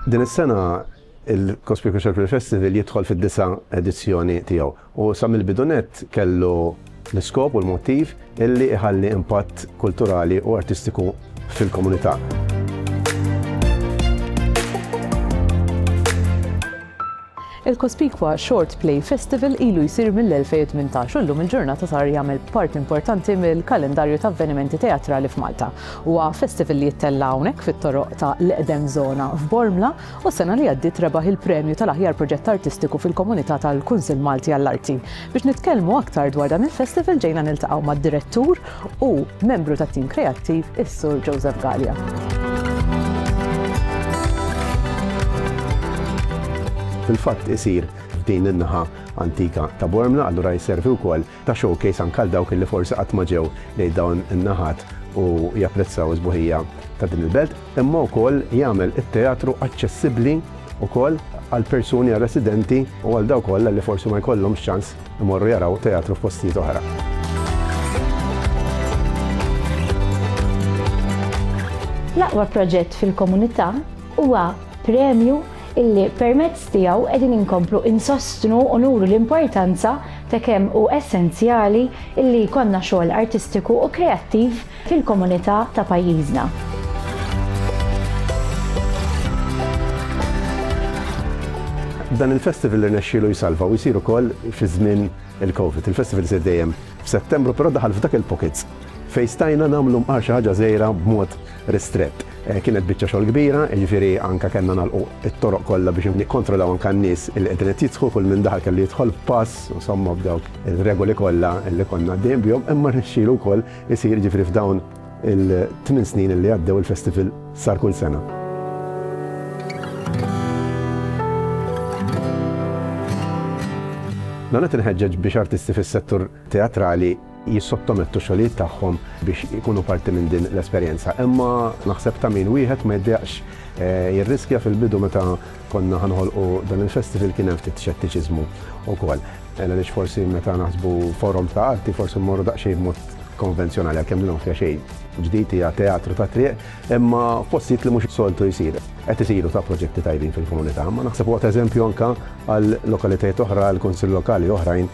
Din is-sena il-Cospicuous Circular Festival jidħol fid-disa edizzjoni tiegħu u sa mill-bidu nett kellu l-iskop u l-motiv illi iħalli impatt kulturali u artistiku fil-komunità. Il-kospikwa Short Play Festival ilu jsir mill-2018 u llum il-ġurnata sar jagħmel parti importanti mill-kalendarju ta' avvenimenti teatrali f'Malta. Huwa festival li jittella' hawnhekk fit-toroq ta' l-eqdem żona f'Bormla u s-sena li għaddiet rebaħ il-premju tal-aħjar proġett artistiku fil-komunità tal-Kunsill Malti għall-Arti. Biex nitkellmu aktar dwar dan il-festival ġejna niltaqgħu mad-direttur u membru tat-tim kreattiv is-Sur Joseph Gallia. Fil-fatt isir f'din in-naħa antika ta' Bormla, allura jservi wkoll ta' showcase anke għal dawk li forsi qatt ma ġew lejn dawn in-naħat u japprezzaw is-sbuħija ta' din il-belt. imma wkoll jagħmel it-teatru aċċessibbli wkoll għal persuni, għal residenti u għal dawk kollha li forsi ma jkollhomx ċans imorru jaraw teatru f'postijiet oħra. L-aqwa proġett fil-komunità huwa premju illi permezz tiegħu qegħdin inkomplu insostnu u nuru l-importanza ta' kemm u essenzjali illi jkollna xogħol artistiku u kreattiv fil-komunità ta' pajjiżna. Dan il-festival irnexxielu jsalva u jsir ukoll fi żmien il-Covid. Il-festival isir dejjem f'Settembru però daħal f'dak il-pockets fejn stajna nagħmlu mqar xi ħaġa żgħira b'mod ristrett. Kienet biċċa xogħol kbira, jiġifieri anke kellna nagħlqu t-toroq kollha biex nikkontrollaw anke n-nies li qegħdin qed jidħlu, kull min daħal kellu jidħol b'pass, insomma b'dawk ir-regoli kollha li konna għaddejjin bihom, imma rnexxielu wkoll Isir jiġifieri f'dawn il-tmien snin li għaddew il-festival sar kull sena. Dan qed inħeġġeġ biex artisti fis-settur teatrali jissottomettu xogħlijiet tagħhom biex ikunu parti minn din l-esperjenza. Imma naħseb ta' min wieħed ma jiddejaqx eh, jirriskja fil-bidu meta konna ħa noħolqu dan il-festival kien hemm ftit xettiċiżmu wkoll. Għaliex forsi meta naħsbu forum ta' arti forsi mmorru daqsxejn b'mod konvenzjonali għalkemm din fiha xejn ġdid hija teatru ta' triq, imma f'postijiet li mhux soltu jsir. Qed isiru ta' proġetti tajbin fil-komunità, ma naħseb huwa ta' eżempju anke għal lokalitajiet oħra, għal kunsill lokali oħrajn